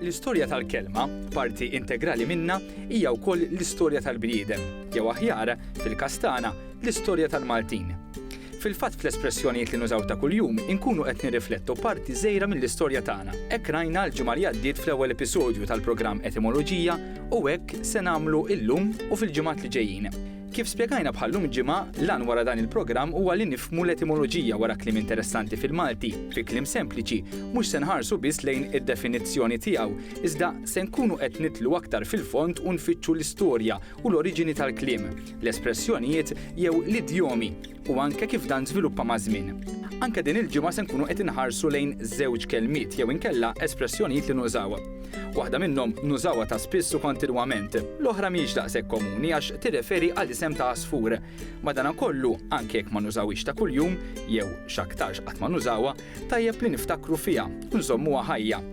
L-istorja tal-kelma, parti integrali minnha, hija wkoll l-istorja tal-bniedem, jew aħjar, fil-każ tagħna, l-istorja tal-Maltin. Fil-fatt fl-espressjonijiet li nużaw ta' kuljum inkunu qed nirriflettu parti żgħira mill-istorja tagħna. Hekk rajna l-ġimgħa li għaddiet fl-ewwel episodju tal-programm Etimoloġija u hekk se nagħmlu illum u fil-ġimgħat li ġejjin. Kif spjegajna bħal-lum il-ġimgħa, l-għan wara dan il-programm huwa li nifhmu l-etimoloġija wara kliem interessanti fil-Malti, fi kliem sempliċi, mhux se nħarsu biss lejn id-definizzjoni tiegħu, iżda se nkunu qed nidħlu aktar fil-fond u nfittxu l-istorja u l-oriġini tal-kliem, l-espressjonijiet jew l-idjomi. u anke kif dan żviluppa maż-żmien. Anke din il-ġimgħa se nkunu qed inħarsu lejn żewġ kelmiet jew inkella espressjonijiet li nużaw. Waħda minnhom nużawha ta' spiss u kontinwament, l-oħra mhijiex daqshekk komuni għax tirreferi għal isem ta' għasfur. Madankollu, anke jekk ma nużawhiex ta' kuljum, jew x'aktarx qatt ma nużawha, tajjeb li niftakru fiha u nżommuha ħajja.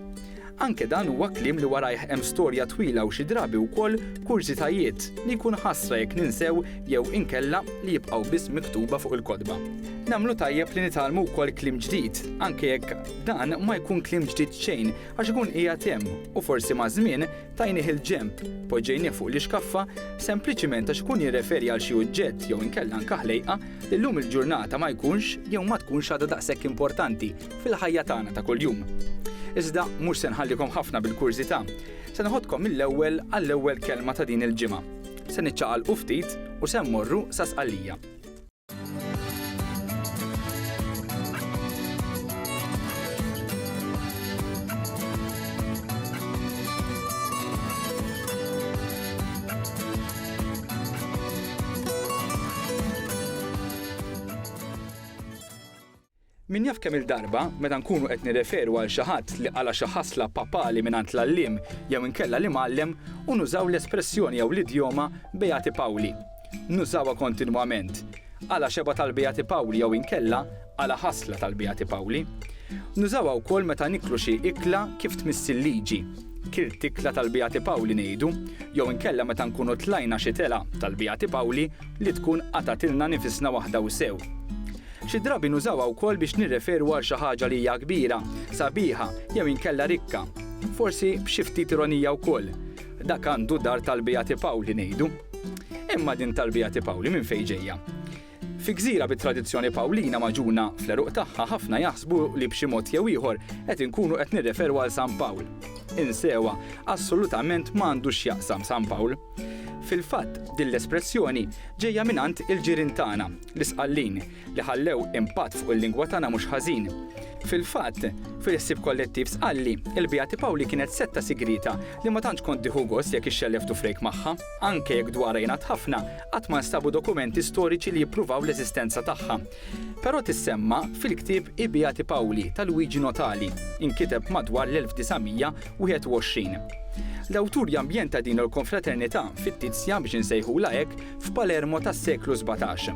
Anke dan huwa kliem li warajh hemm storja twila u xi drabi wkoll kurżitajiet li jkun ħasra jekk ninsew jew inkella li jibqgħu biss miktuba fuq il-kotba. Nagħmlu tajjeb li nitgħallmu wkoll kliem ġdid, anke jekk dan ma jkun kliem ġdid xejn għax ikun qiegħed hemm u forsi maż-żmien tajnih il-ġenb, poġġejnih fuq l-ixkaffa, sempliċiment għax ikun jirreferi għal xi uġġett jew inkella anke ħlejqa li llum il-ġurnata ma jkunx jew ma tkunx għadha daqshekk importanti. fil-ħajja tagħna ta' kuljum. Iżda mhux se nħallikom ħafna bil-kurżità, se noħodkom mill-ewwel għall-ewwel kelma ta' din il-ġimgħa. Se niċċaqalqu ftit u se mmorru sa Sqallija. Min jaf kemm-il darba, meta nkunu qed nirreferu għal xi ħadd li qala' xi ħasla papali mingħand l-għalliem jew inkella l-imgħallem u nużaw l-espressjoni jew l-idjoma Beati Pauli. Nużawha kontinwament. Qala' xebgħa tal-Beati Pauli jew inkella qala' ħasla tal-Beati Pauli. Nużawha wkoll meta niklu xi ikla kif tmiss il-liġi. Kilt ikla tal-Beati Pauli ngħidu, jew inkella meta nkunu tlajna xi telgħa tal-Beati Pauli li tkun qatgħatilna nifisna waħda u sew. Xi drabi nużawha wkoll biex nirreferu għal xi ħaġa li hija kbira, sabiħa, jew inkella rikka. Forsi b'xi ftit ironija wkoll, dak għandu dar tal-Beati Paoli ngħidu. Imma din tal-Beati Paoli minn fejn ġejja? Fi gżira bit-tradizzjoni Pawlina magħġuna fl-għeruq tagħha ħafna jaħsbu li b'xi mod jew ieħor qed inkunu qed nirreferu għal San Pawl. Insewha, assolutament ma għandu x'jaqsam San Pawl. Fil-fatt, din l-espressjoni ġejja mingħand il-ġirien tagħna, L-Isqallin, li ħallew impatt fuq il-lingwa tagħna mhux ħażin. Fil-fatt, fil-ħsieb kollettiv Sqalli, il-Beati Pawli kienet setta sigrieta li ma tantx kont tieħu gost jekk ixxellef tufrejk magħha. Anke jekk dwarha jingħad ħafna, qatt ma nstabu dokumenti storiċi li jippruvaw l-eżistenza tagħha. Però tissemma fil-ktieb I Beati Pawli ta' Luigi Notali, inkiteb madwar l-1900, 21. L-awtur jambjenta din il-konfraternità fittizja, biex insejħulha hekk, f'Palermo tas-seklu sbatax.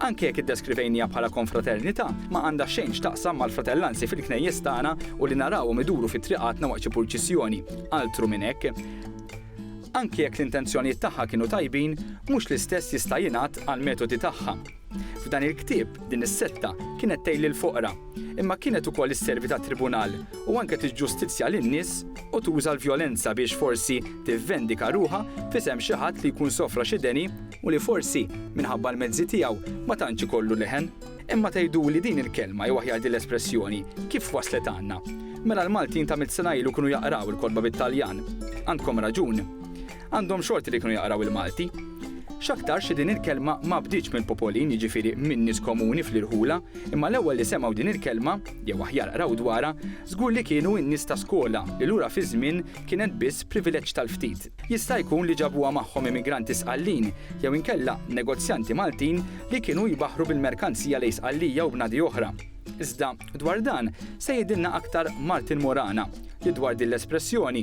Anke jekk iddeskrivejniha bħala konfraternità, ma għandha xejn x'taqsam mal-fratellanzi fil-knejjes tagħna u li narawhom iduru fi triqatna waqt xi purċissjoni, altru minn hekk. Anke jekk l-intenzjonijiet tagħha kienu tajbin, mhux l-istess jista' jingħad għall-metodi tagħha. F'dan il-ktieb, din is-setta kienet tgħin lill-foqra, imma kienet ukoll isservi ta' tribunal u anke tiġġustizzja lin-nies u tuża l-vjolenza biex forsi tivvendika ruħha f'isem xi ħadd li jkun sofra xi deni u li forsi, minħabba l-mezzi tiegħu, ma tantx ikollu leħen. Imma tgħiduli din il-kelma jew aħjar din l-espressjoni kif waslet għandna? Mela l-Maltin ta' mitt sena ilu kienu jaqraw il-kotba bit-Taljan. Għandkom raġun. Għandhom xorti li kienu jaqraw il-Malti. X'aktarx li din il-kelma ma bdietx mill-popolin, jiġifieri minn nies komuni fl-irħula, imma l-ewwel li semgħu din il-kelma, jew aħjar qraw dwarha, żgur li kienu n-nies ta' skola li lura fiż-żmien kienet biss privileġġ tal-ftit. Jista' jkun li ġabuha magħhom immigranti Sqallin, jew inkella negozjanti Maltin li kienu jbaħħru bil-merkanzija lejn Sqallija u bnadi oħra. Iżda, dwar dan, se jgħidilna aktar Martin Morana, li dwar din l-espressjoni,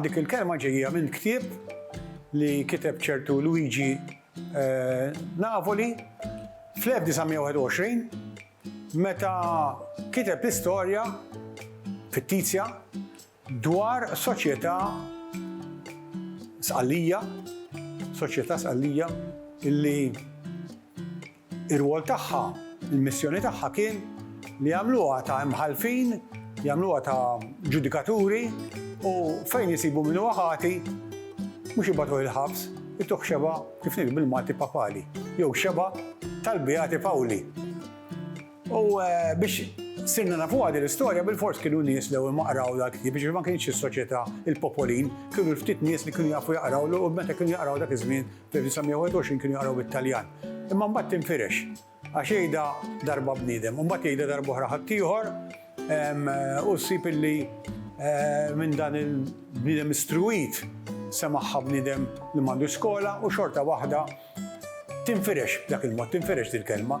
Dik il-kelma ġejja minn ktieb li kiteb ċertu Luigi eh, Napoli fl-1921 meta kiteb l-istorja fittizja dwar soċjetà sqallija, soċjetà sqallija illi Ir-rwol tagħha, il-missjoni tagħha kien li jagħmluha ta' imħallfin, jagħmluha ta' ġudikaturi u fejn isibu min huwa ħati mhux ibagħtuh il-ħabs, ituh xebgħa kif ngħidu bil-Malti papali, jew xebgħa tal-Beati Pawli. U biex sirna nafuha din l-istorja bilfors kienu nies li ma qraw dal-ktieb biex ma kienx is-soċjetà il-popolin, kienu l-ftit nies li kienu jafu jaqraw u meta kienu jaqraw dak iż-żmien 1921 kienu jaqraw bit-Taljan. Imma mbagħad tinfirex. Għax jgħidha darba bniedem, u mbagħad jgħidha darba oħra ħaddieħor, u ssib illi minn dan il-bniedem istruwit semagħha bniedem li m'għandux skola u xorta waħda tinfirex b'dak il-mod, tinfirex dil-kelma.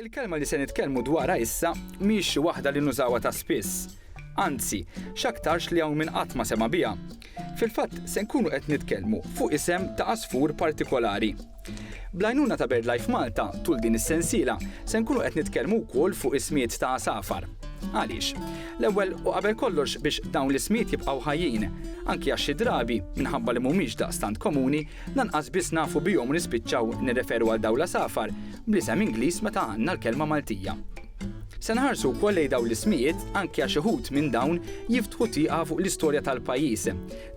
Il-kelma li se nitkellmu dwarha issa mhijiex xi waħda li nużawha ta' spiss. Anzi, x'aktarx li hawn min qatt ma sema' biha. Fil-fatt, se nkunu qed nitkellmu fuq isem ta' għasfur partikolari. Bl-għajnuna ta' BirdLife Malta, tul din is-sensiela, se nkunu qed nitkellmu wkoll fuq ismijiet ta' għasafar. Għaliex? L-ewwel u qabel kollox biex dawn l-ismijiet jibqgħu ħajjin, anki għax xi drabi, minħabba li mhumiex daqstant komuni, lanqas biss nafu bihom u nispiċċaw nirreferu għal dawn l-għasafar bl-isem Ingliż meta għandna l-kelma Maltija. Se nħarsu wkoll lejn dawn l-ismijiet anki għax uħud minn dawn jiftħu tieqa fuq l-istorja tal-pajjiż.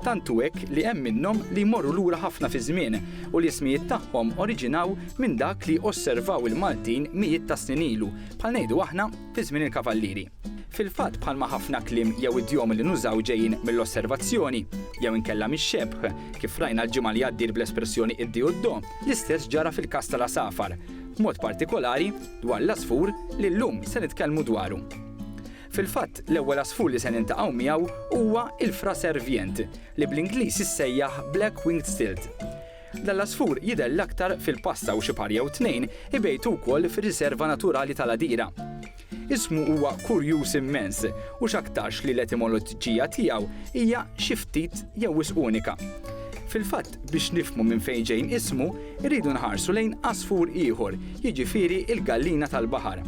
Tant hu hekk li hemm minnhom li jmorru lura ħafna fiż-żmien u li ismijiet tagħhom oriġinaw minn dak li osservaw il-Maltin mijiet ta' snin ilu, bħal ngħidu aħna, fi żmien il-Kavallieri. Fil-fatt bħalma ħafna kliem jew idjomi li nużaw ġejjin mill-osservazzjoni, jew inkella mix-xebh, kif rajna l-ġimgħa li għaddiet bl-espressjoni id-di u d-do, l-istess ġara fil-każ tal-għasafar, b'mod partikolari dwar l-għasfur li llum se nitkellmu dwaru. Fil-fatt, l-ewwel għasfur li se niltaqgħu miegħu huwa il-fraser vjent, li bl-Ingliż issejjaħ black-winged stilt. Dan l-għasfur jidher l-aktar fil-Passa u xi par jew tnejn ibejtu wkoll fir-Riserva Naturali tal-Għadira. Ismu huwa kurjuż immens u x'aktarx li l-etimoloġġija tiegħu hija xi ftit jew wisq unika. Fil-fatt, biex nifhmu minn fejn ġejn ismu, irridu nħarsu lejn għasfur ieħor, jiġifieri l-gallina tal-baħar.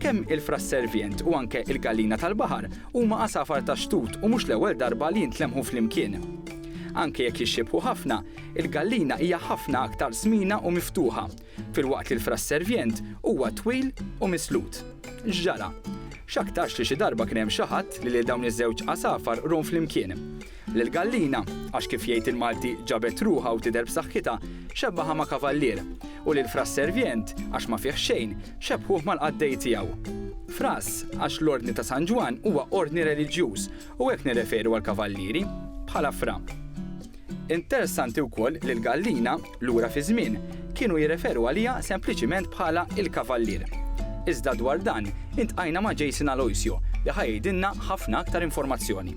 Kemm il-frass servient u anke l-gallina tal-baħar huma għasafar tax-xtut u mhux l-ewwel darba li jintlemħu flimkien. Anke jekk jixxiebħu ħafna, il-gallina hija ħafna aktar smiena u miftuħa, filwaqt li l-frass servient huwa twil u mislut. X'ġara? X'aktarx li xi darba kien hemm xi ħadd li lil dawn iż-żewġ għasafar rom flimkien. Lil gallina, għax kif jgħid il-Malti ġabet ruħha u tidher b'saħħitha, xebbagħha ma' kavallier, u lil fras servjent, għax ma fih xejn, xebbħuh mal-qaddej tiegħu. Fras, għax l-Ordni ta' San Ġwann huwa ordni reliġjuż u hekk nirreferu għall-kavallieri, bħala fra. Interessanti wkoll li l-gallina, lura fiż-żmien, kienu jirreferu għaliha sempliċiment bħala il-kavallier. Iżda dwar dan, iltqajna ma' Jason Aloisio li ħa jgħidilna ħafna aktar informazzjoni.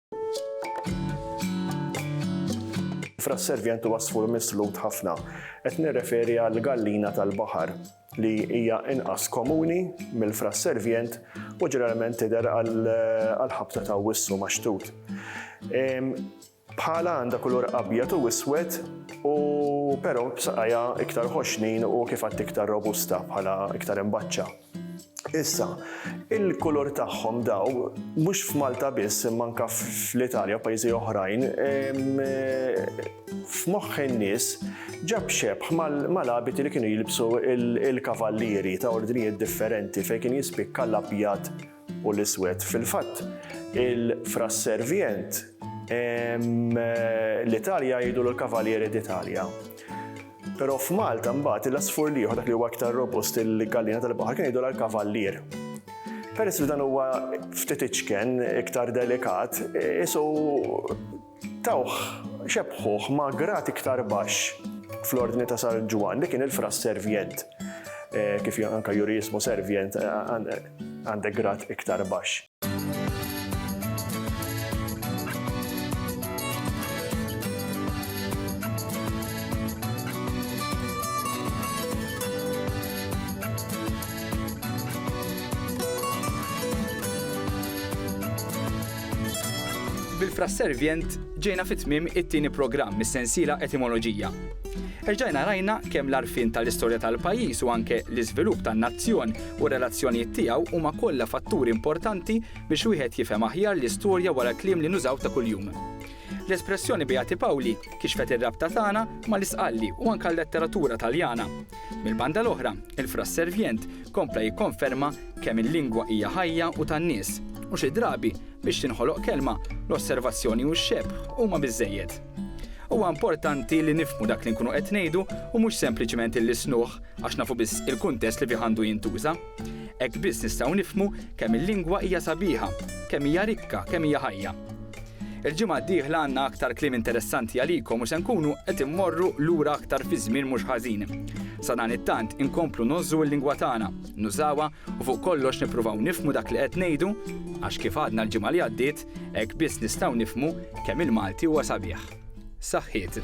Fra s-servjent u wasfur mislut ħafna, qed nirreferi għal gallina tal-baħar li hija inqas komuni mill-fra s-servjent u ġeneralment tidher għal ħabta ta' wissu maxtut. Bħala għandha kulur abjad u iswed u però b'saqajja iktar ħoxnin u kif għad iktar robusta bħala iktar imbaċċa. Issa, il-kulur tagħhom daw, mhux f'Malta biss, imma anke fl-Italja u pajjiżi oħrajn, f'moħħ in-nies ġab xebħ mal-abiti li kienu jilbsu il-kavallieri ta' ordnijiet differenti fejn kien jispikka l-abjad u l-iswed. Fil-fatt, il-fras servient l-Italja jgħidu l-Kavalieri d'Italia. Però f'Malta mbagħad l-asfur liħor dak li huwa aktar robust il-gallina tal-baħar kien jgħidu l-Kavallier. Peress li dan huwa ftit iċken, iktar delikat, isu Tawh, xebbħuh ma' grad iktar baxx fl-Ordni ta' San Ġwann, li kien il-Fra Servient, kif anke juri ismu Servient, għandek grad iktar baxx. Bil-frasservjent ġejna fi tmiem it-tieni programm mis-sensiela Etimoloġija. Erġajna rajna kemm l-għarfien tal-istorja tal-pajjiż u anke l-iżvilupp tan-nazzjon u r-relazzjonijiet tiegħu huma kollha fatturi importanti biex wieħed jifhem aħjar l-istorja wara l-kliem li nużaw ta' kuljum. L-espressjoni Beati Pawli kixfet ir-rabta tagħna mal-Isqalli u anke l-letteratura Taljana. Mill-banda l-oħra, il-frasservjent kompla jikkonferma kemm il-lingwa hija ħajja u tan-nies, u xi drabi, biex tinħoloq kelma, l-osservazzjoni u x-xebh huma biżżejjed. Huwa importanti li nifhmu dak li nkunu qed ngħidu u mhux sempliċement illisnuh għax nafu biss il-kuntest li fih għandu jintuża. Hekk biss nistgħu nifhmu kemm il-lingwa hija sabiħa, kemm hija rikka, kemm hija ħajja. Il-ġimgħa d-dieħla għandna aktar kliem interessanti għalikom u se nkunu qed immorru lura aktar fi żmien mhux ħażin. Sadanittant inkomplu ngħożżu l-lingwa tagħna, nużawha u fuq kollox nippruvaw nifhmu dak li qed ngħidu għax kif għadna l-ġimgħa li għaddiet, hekk biss nistgħu nifhmu kemm il-Malti huwa sabiħ. Saħħiet.